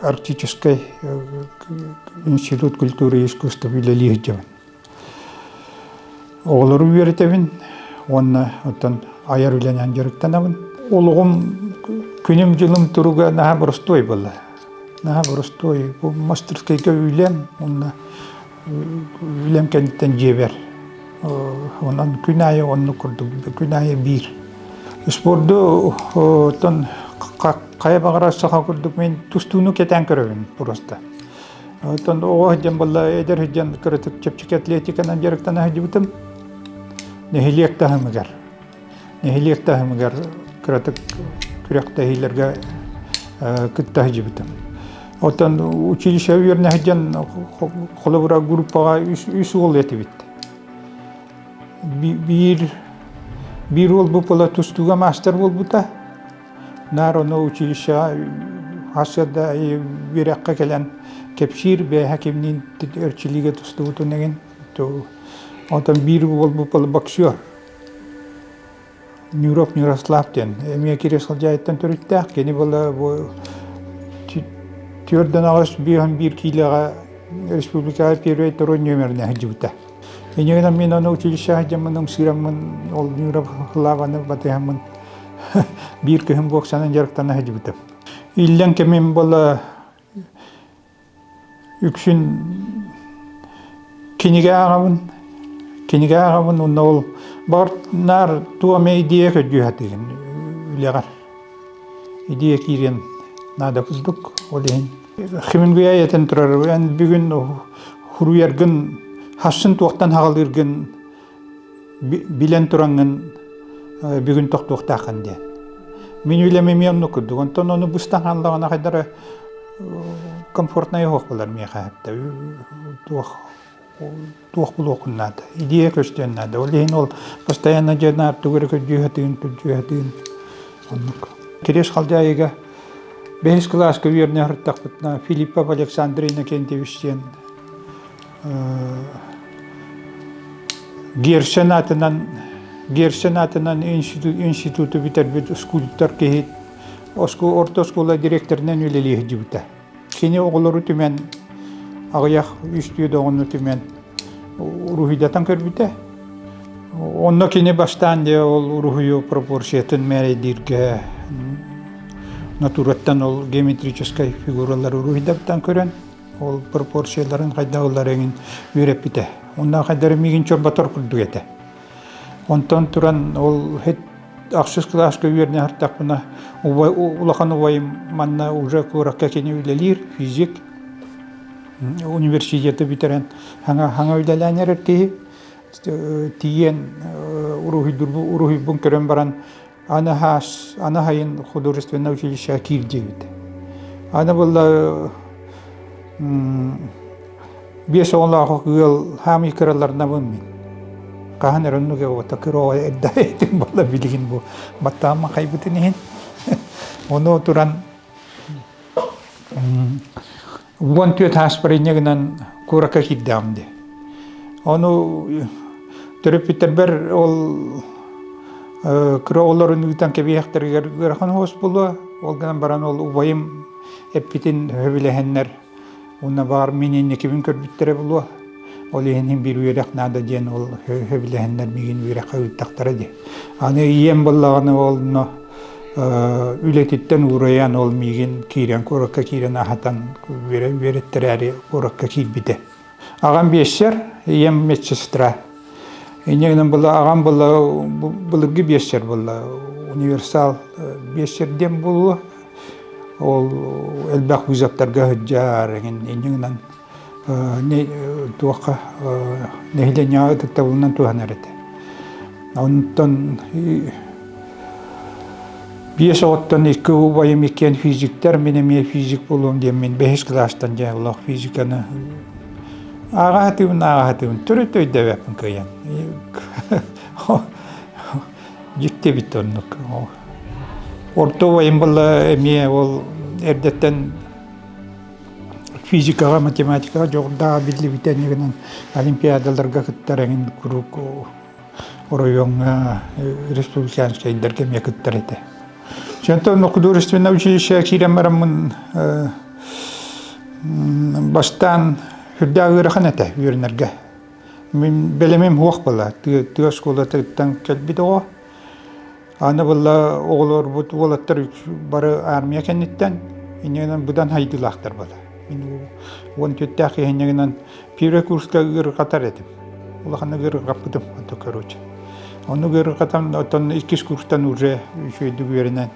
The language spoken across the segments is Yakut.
Арктическай институт культуры и искусства үлэлии сылдьабын. Оҕолору үөрэтэбин уонна оттон айар үлэнэн дьарыктанабын. Олоҕум, күнүм-дьылым туруга наһаа боростуой буолла. Наһаа боростуой. Мастерскайга үлэм уонна үлэм кэнниттэн дьиэбэр онон күн аайы оннук курдук күн аайы биир спордуттан хайа баҕарар саха курдук мин тустууну кэтээн көрөбүн просто оттон оҕо сылдьан балла эдэр сылдьан кыратык чэпчэки атлетиканан дьарыктана сылдьыбытым нэһилиэк таһымыгар нэһилиэк таһымыгар кыратык күрэхтэһиилэргэ кытта сылдьыбытым. Оттон училище үөрнэһи дьон холобура группаҕа үс уол этибит. Биир биир уол бу пыла тустууга маастар буолбута. Народно училищеҕа хас да үөрэххэ кэлэн кэпсиир бэйэһэ кимниин өрчилиигэ тустубутун эгин. Оттон биир уол бу пыла боксер. Нюров Нюрослав диэн эмиэ киирэ сылдьаайыттан төрүттээх кини була бу түөрт доноҕос биэһин биир киилэҕэ республикаҕа первый второй номерне сылдьыбыта. Инегинам мин ону училище сылдьаммын ымсыыраммын ол Нюров Хлаваны батыһаммын биир кыһын боксанан дьарыктана сылдьыбытым. Иллэҥ кэмим була Үксүн кинигэ ааҕабын, кинигэ ааҕабын уонна ол баҕар наар туом идея көрдүү сатыырын үлэҕэр идея киириэн наада курдук, ол иһин Хемингуэй айэтин турар бүгүн уһуйаргын, хассын туохтан саҕалыыргын билэн тураҥҥын бүгүн тохтуохтааххын диэн мин үлэмими онно курдук онтон ону быстан хааллаҕына хайдара комфортнай оһох булар миэхэ туох туох булуохун наада идея көстүөн наада ол иһин ол постоянно дьиэнаар тугу көрдүүһэтин күрдүүһэтин оннук киреш халдьаайыга бэһис кылааска үөрнэ сырыттахпытына филиппов александр иннокентьевич диэн Герсен атынан Герсен атынан институт, институту бүтэрбит скульптор киһи оскул, орто оскуола директорынан үлэлиэһдибитэ. Кини оҕолору түмэн аҕыйах үстүү доҕону түмэн уруһуйдатан көрбүтэ. Онно кини бастаан дьэ ол уруһуйу пропорциятын мээрэйдииргэ натураттан ол геометрическай фигуралары уруһуйдаттан көрөн Ол пропорцияларын хайдах ылар эҥин үөрэппитэ. Онно хайдары миигин чорботор курдук этэ. Онтон туран ол хет ахсыс кылааска үөрне хартахпына улахан убайым манна уже куоракка кини үлэлиир физик университеты бүтэрэн хаҥа хаҥа үлэлээн эрэр киһи тиийэн уруһуйдурбу уруһуйбун көрөн баран аны хайын художественное училище киирдибит. Аны было биэс оҕолоох ыал хаамый кыраларнабын мин. Хаһан эроннуге ота кыроо эрда этим болла билигин бу баттаамма хайбытын иһин. Ону туран уон түөрт ааспарынньа гынан куоракка киирдэҕим дии. Ону төрөппүттэрбэр ол кыра оҕолорун ыытан кэбиһэхтэригэр ыарахан уос булуо. Ол гынан баран ол убайым эппитин сөбүлэһэннэр уонна баар мин инникибин көрбүттэрэ булуо. Ол иһин биир үөрэх наада диэн ол сөбүлэһэннэр миигин үөрэххэ ыыттахтара дии. Аны ийэм буоллаҕына ол үлэтиттэн уурайан ол миигин киирэн куоракка киирэн аһатан үөрэттэрээри куоракка киирбитэ. Аҕам биэсэр, ийэм медсестра. Инньэ гынан была аҕам была былыргы биэсэр буолла универсал биэсэр диэн буолуо. Ол элбэх вузовтарга сылдьар, инньэ гынан туохха нэһилиэнньэҕэ ытыктабылынан туһанар этэ. Онтон биэс оҕоттон икки убайым иккиэн физиктэр, мин эмиэ физик буолуом диэммин бэһис класстан дьааллаах физиканы ааҕаатыбын ааҕаатыбын төрүт өйдөбөппүн кыйан дьикти бит оннук орто убайым була эмиэ ол эрдэттэн физикаҕа математикаҕа дьоҕурдааҕа биллибит эниэгинэн олимпиадаларга кыттар эҥин куруук оройуоҥҥа республиканскайдарга эмиэ кыттар этэ. Оттон художественное училищеға киирэн бараммын бастаан сүрдээх ыарахан этэ үөрэнэргэ. Мин бэлэмим уох была. Тыа оскуолатыттан кэлбит оҕо Аны була оҕолорбут уолаттар бары армия кэнниттэн иннинэн быдан хайдылаахтар бала. Мин уон түттээх иһиннигинэн первый курска ыырҕатар этим. Улахан ыырҕаппытым, онто короче. Ону ыырҕатам, оттон иккис курстан уже үчүйдүк үөрэнэн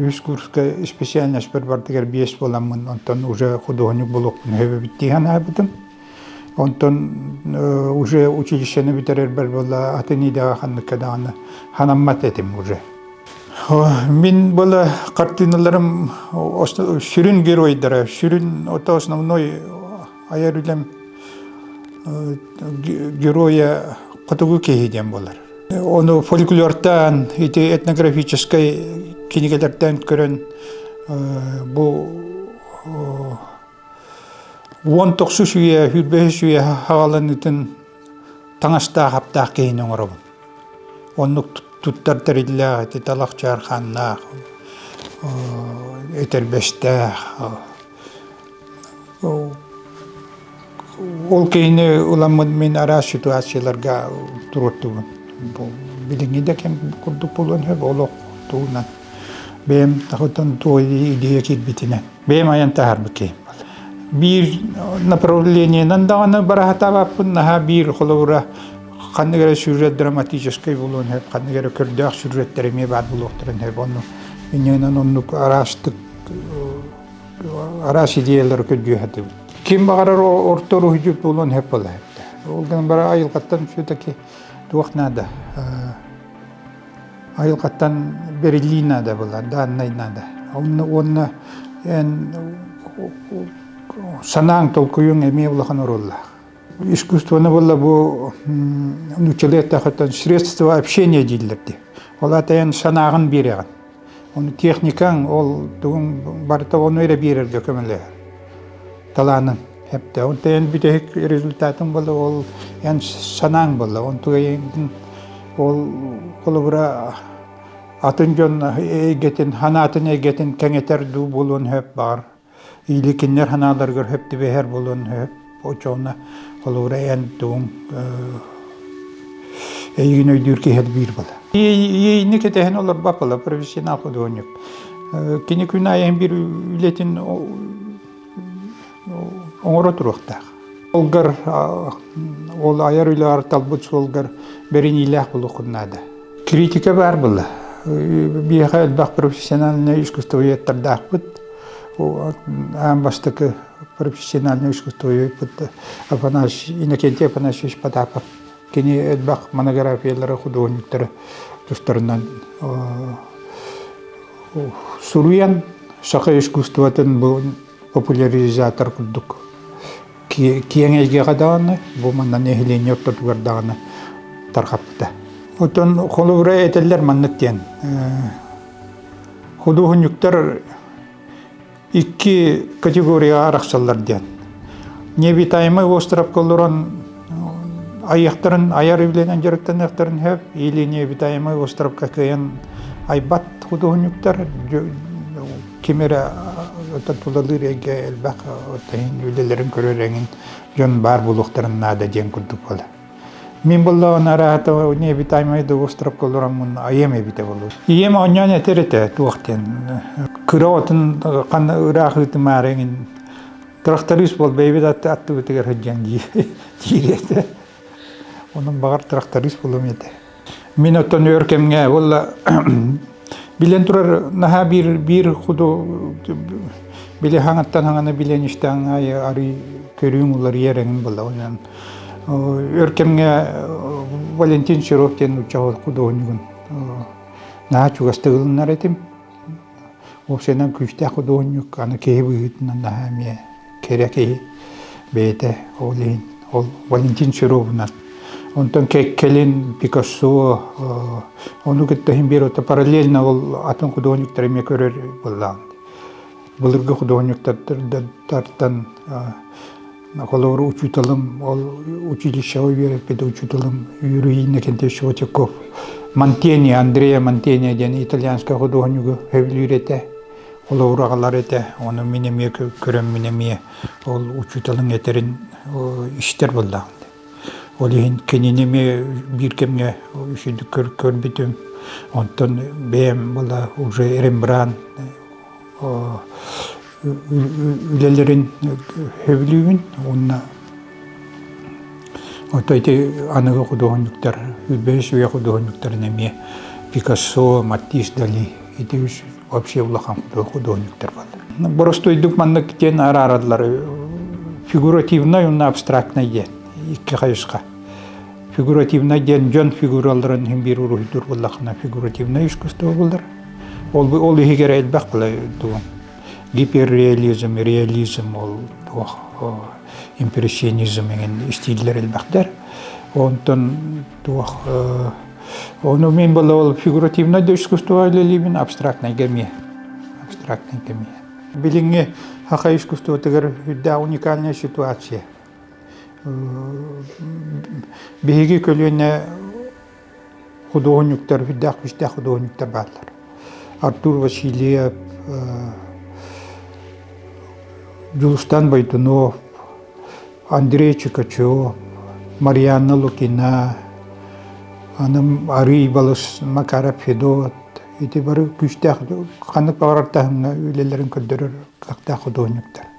үс курска специальноспор бардыгар биэс буоламмын, онтон уже худуоһунньук булуохпун сөбүбүт дии санаабытым. Онтон уже училищены бүтэрэрбэр була атын идэҕэ ханнык даҕаны ханаммат этим уже. Мин была картиналарым сүрүн геройдара, сүрүн ото основной айар үлэм героя хотугу киһи диэн болар. Ону фольклортан, ити этнографическай кинигэлэртэн көрөн бу уон тохсус үйэ үрбэһис үйэ аҕаланытын таҥастаах-аптаах киһини оҥоробун оннук туттар тэриллээх ити талах чаархааннаах этэрбэстээх ол киһини уламмын мин араас ситуацияларга туруортубун билиҥҥи да кэм курдук булан сөп олох туунан бэйэм тахытан туой идея кирбитинэн бэйэм айан таһаарбыт киһим. Биир направлениенан даҕаны бараһатаабаппын наһаа биир холобура ханнык эрэ сүрүрет драматическай булуон сөп, ханнык эрэ көрдөөх сүрүреттэр эмиэ баар булуохтарын сөп. Онну иннинэн оннук араастык араас идеялары көрдүөхэтибит. Ким баҕарар орто уруһуйдьут булуон сөп була Ол гынан бара айылҕаттан все-таки туох наада айылҕаттан бериллии наада былар дааннай наада онно уонна эн санааҥ толкуйуҥ эмиэ улахан оруоллаах искусствоны булла бу нучеле тахытан средства общения дииллэрди ол ата эн санааҕын биэрэҕин оны техникаң ол тугуҥ барыта ону эрэ биэрэргэ көмөлөһөр талаанын Хептаун тэйэн бүтэһик результатым була ол эн санааң була он тугайын ол холобура атын дьон эйгэтин ханаатын эйгэтин кэҥэтэр дуу буолуон сөп баар иликиннэр ханааларыгар сөп түбэһэр буолуон сөп очоона холобура эн тугуҥ эйигин өйдүүр киһи биир бала иэйини кэтэһэн олорбаппала профессионал худуонньук кини күн айан биир үлэтин оҥоро туруохтаах. Олгар ол айар үлэҕэр талбыт суолгар бэриниилээх булуоххун наада. Критика баар була. Биһиэхэ элбэх профессиональнай искусствоведтардаахпыт. Аан бастакы профессиональнай искусствовед Афанасий Иннокентий Афанасьевич Потапов Кини элбэх монографиялары, худуоһунньуктары тустарынан суруйан саха искусствотын бу популяризатор курдук киэҥ эйгэҕэ даҕаны бу манна нэһилиэнньэ ортотугар даҕаны тарҕаппыта. Оттон холобура этэллэр маннык диэн худуоһунньуктар Икки категорияға арахсаллар диэн. Необитаемый островка олорон айыахтарын айар үлэнэн дьарыктаныахтарын сөп или необитаемый островка кыйан айбат худуһунньуктар кимере тулалыыр эйгэ элбэх үлэлэрин көрөр эҥин дьон баар буолуохтарын наада диэн курдук буолар Мин буллаҕын араатыла небитаймай дугустропка олороммун айыам эбитэ болу. Ийем онньон этер этэ туох диэн кыра отун ханна ыраах ыытымаары эҥин тракторист бол бэйбит аттыбытыгар сыдьан дии диир этэ. Онон баҕар тракторист булум этэ Мин оттон өр кэмҥэ буолла билэн турар наһаа биир биир куду били хаҥаттан хаҥаны билэн истэҕиҥ аайы арыый көрүүҥ уларыйар эҥин буолла өр кэмҥэ Валентин Серов диэн нуучча кудуһунньугун наһаа чугастык ылынар этим Уопсайынан күүстээх худуоһунньук, аны киһи быһыытынан наһаа эмиэ кэрэ киһи бэйэтэ ол иһин ол Валентин Серовунан. Онтон кэлин Пикассо, ону кытта иһин биир отто параллельно ол атын худуоһунньуктары эмиэ көрөр былаан. Былыргы худуоһунньуктартан Холобур, учууталым, ол училищеҕа үөрэппит учууталым Юрий Иннокентьевич Вотяков Монтени, Андрея Монтени диэн итальянскай худуоһунньугу сөбүлүүр этэ. Холобур, аҕалар этэ. Ону мин эмиэ көрөн мин эмиэ ол учууталын этэрин истэр буоллаҕым. Ол иһин кинини эмиэ биир кэмҥэ үчүгдүк көр, көрбүтүм. Онтон бэйэм была уже Рембрандт үлэлэрин сөбүлүүбүн уонна отой ити аныгы худуоһунньуктар бэс үйэ худуоһунньуктарын эмиэ Пикассо, Маттис Дали ити үс вообще улахан худуоһунньуктар баллар. Боростуйдук маннык диэн араараллар фигуративнай уонна абстрактнай диэн икки хайысха фигуративнай диэн дьон фигураларын иһин биир уруһуйдуур буллаххына фигуративнай искусство буллар Ол, ол иһигэр элбэх былай дуо гиперреализм, реализм ол туох импрессионизм эҥин истииллэр элбэхтэр. Онтон туох ону мен было ол фигуративное искусство или либин абстрактный гамия. Абстрактный гамия. Билиҥҥи хаха искусствотыгар үрдэ уникальная ситуация. Биһиги көлүөнэ худуоһунньуктар, үрдээх күүстээх худуоһунньуктар бааллар. Артур Васильев, Дьулустан Байдунов, Андрей Чукачев, Марианна Лукина, анам арыый балыс Макаров Федот, ити бары күүстээх ханнык баҕарар таһымҥа үлэлэрин көрдөрөр кыахтаах худуоһунньуктар.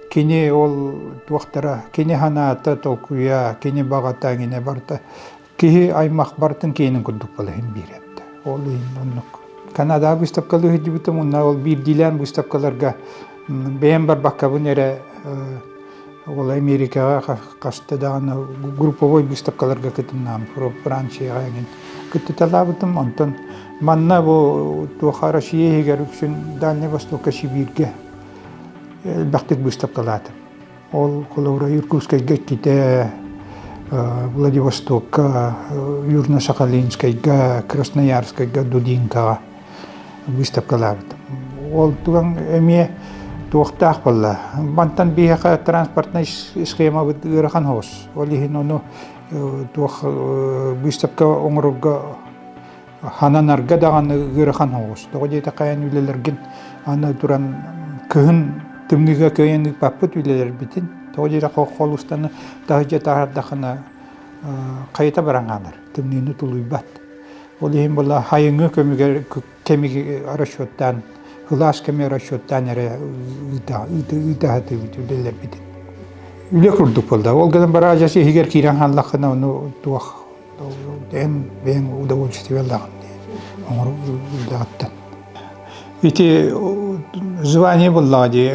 Кини ол туохтара, кини санаата, толкуйа, кини баҕата, кини барта киһи аймах бартын киэнин курдук балаһын биэрэрдэ. Ол иһин оннук. Канадаҕа быыстапкалыы сылдьыбытым, онно ол биирдиилээн быыстапкаларга бэйэм барбаккабын эрэ ол Америкаҕа хаста даҕаны групповой быыстапкаларга кытыннаам, Францияҕа эҥин кыттыталаабытым. Онтон манна бу туоха Россия иһигэр үксүн Дальний Востокка, Сибииргэ элбэхтик быыстапкалаатым. Ол холобура Иркутскайга иккитэ, Владивостокка, Южно-Сахалинскайга, Красноярскайга, Дудинкаҕа быыстапкалаабытым. Ол туган эмиэ туохтаах буолла? Мантан биһиэхэ транспортнай схемабыт ыарахан хобус. Ол иһин ону туох быыстапка оҥорорго хананарга даҕаны ыарахан оҕустоҕо диэтэхэйэн үлэлэргин аны туран кыһын тымныыга кыайан ыыппаппыт үлэлэрбитин тоҕо диэри холустаны таһыдьа таһардахына хайыта баран хаалар тымныыны тулуйбат ол иһин була хайыҥы көмүгэр кэмиги расчеттаан кылаас кэми расчеттаан эрэ ыытаһатыбыт үлэлэрбитин үлэ курдук буолда ол гынан бараажас иһигэр киирэн хааллаххына ону туох бэйэҥ удовольствиелаах оҥороргутуттан ити звание буллаҕа дии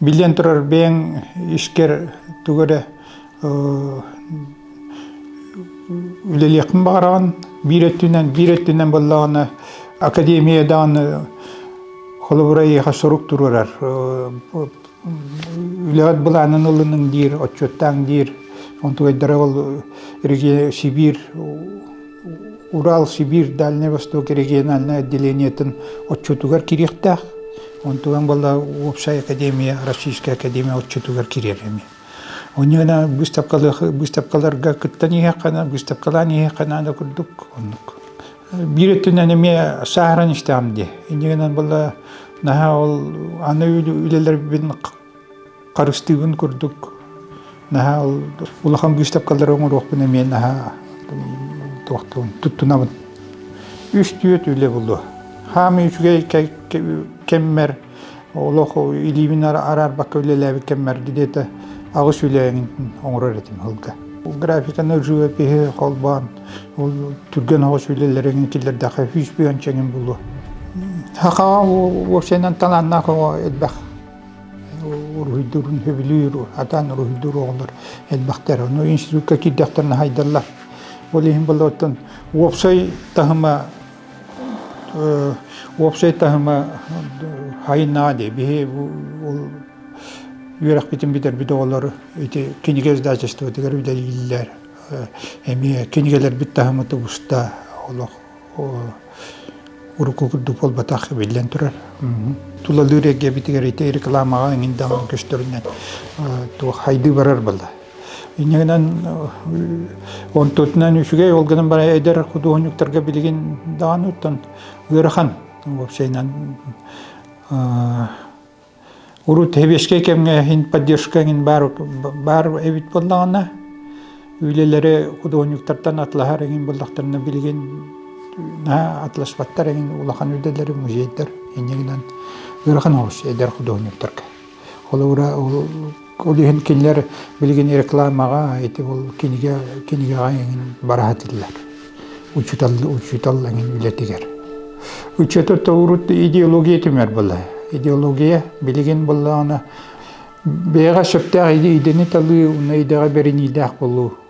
биллэн турар бэйэҥ искэр тугу эрэ үлэлиэхпин баҕараҕын биир өттүнэн биир өттүнэн буоллаҕына академия даҕаны холобура эйиэхэ сурук туруорар үлэҕит былаанын ылыныҥ диир отчуттааҥ диир онтугайдара ол Сибирь Урал Сибирь Дальний Восток региональнай отделениетын отчутугар кириэхтээх онтуган была уопсай академия Российская академия отчутугар кириэр эми онньана быыстапкаларга кыттан иһэххана быыстапкалаан иһэххана да курдук оннук Биир өттүнэн эмиэ сааһыран истэҕим дии. Инньэ гынан була наһаа ол аны үлэлэрбин харыстыыбын курдук наһаа ол улахан быыстапкалары оҥоруохпун эмиэ наһаа туохтуун туттунабын. Үс-түөрт үлэ булуо. Хаамыы үчүгэй кэммэр олох илиибин араарбакка үлэлээбит кэммэрги диэтэ аҕыс үлэҕин оҥорор этим сылга графиканы живопиһи холбоон ол түргэн оҕус үлэлэрин киллэрдэхэ үс бүйэн чэҥин булу сахаҕа уопсайынан талааннаах оҕо элбэх уруһуйдурун сөбүлүүр атаан уруһуйдуур оҕолор элбэхтэр ону институтка киирдэхтэринэ хайдаллар ол иһин болоттон уопсай таһыма Уопсай таһыма хайынаа дии. Биһи үөрэхпитин бүтэрбит оҕолор ити кинигэ издательствотыгар үлэлииллэр. Эмиэ кинигэлэрбит таһыма тубуста олох урукку курдук буолбатах биллэн турар. Тулалыыр эйгэбитигэр ити рекламаҕа эҥин даҕаны көстөрүнэн хайдыы барар буолла. Инньэ гынан онтутунан үчүгэй ол гынан баран эдэр худуоһунньуктарга билигин даҕаны оттон ыарахан уопсайынан урут сэбиэскэй кэмҥэ иһин поддержка иҥин баар баар эбит буоллаҕына үлэлэри худуоһунньуктартан атлаһар иҥин буоллахтарына билигин атласпаттар иҥин улахан үлэлэри музейдар инньэ гынан ыарахан олус эдэр худуоһунньуктарга Холобура, ол иһин кинилэр билигин рекламаҕа, ити ол кинигэ кинигэҕэ эҥин бара сатыыллар. Учутал учутал эҥин үлэтигэр. Учета тоурут идеология түмэр була. Идеология билигин буллаҕына бэйэҕэ сөптөөх идэни талыы, уна идэҕэ бэриниилээх болуу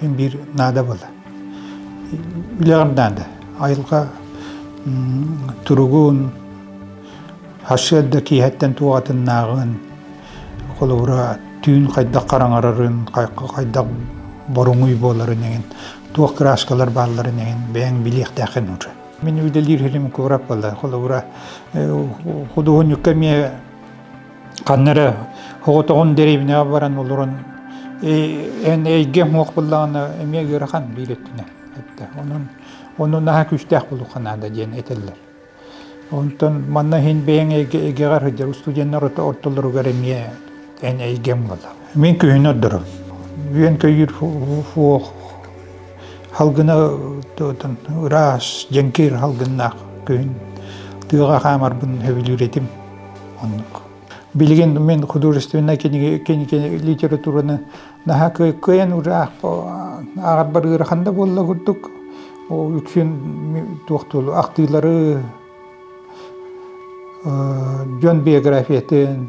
биир наадабыл. Билэҕим наада. Айылҕа туругун, сарсыарда киэһэттэн туоҕатыннааҕын, холобура, түүн хайдах хараҥарарын, хайдах боруҥуй буоларын эҥин, туох краскалар баалларын эҥин бэйэҥ билиэхтээхин уже. Мин үлэлиир хилим куораппала, холобура, худуоһунньукка эмиэ ханна эрэ оҕотоҕун дэриэбинэҕэ баран олорон эн эйгэҥ уох буллаҕына эмиэ ыарахан биир өттүнэн эттэ онон ону наһаа күүстээх булуха наада диэн этэллэр онтон манна иһин бэйэҥ эйгэҕэр сылдьар устудьуоннар ортолоругар эмиэ эн эйгэм буолла мин күһүн ордором үөн көйүүр фуох халгына ыраас дьэҥкир халгыннаах күһүн тыаҕа хаамарбын сөбүлүүр этим Билигин мин художественнай литератураны наһаа кыайан ааҕарбар ыарахан да буолла курдук. Ол үксүн ахтыылары дьон биографиятын,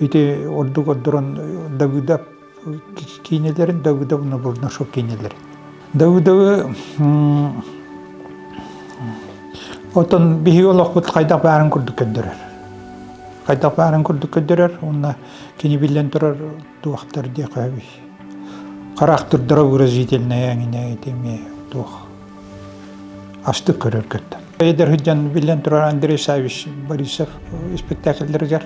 Ити ордук ордорон Давыдов киинелэрин Давыдов Набурнашов киинелэрин. Давыдовы отон биһиги олохпут хайдах баарын курдук көрдөрөр. Хайдах баарын курдук көрдөрөр, уонна кини биллэн турар Туохтар диэхэбий? Характырдара выразительная ангина этими туох астык көрөргөттөн. Эдэр сыдьан биллэн турар Андрей Савич Борисов спектакльлэригэр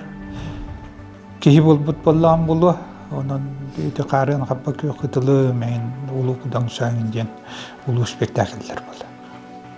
киһи буолбут боллаан булуо онон ити хаарыан хаппа күөх кытылы мэйин улуу кудаҥ сааңын диэн улуу спектакльлэр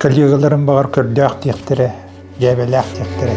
Коллегаларым баҕар көрдөөх диэхтэрэ, дьээбэлээх диэхтэрэ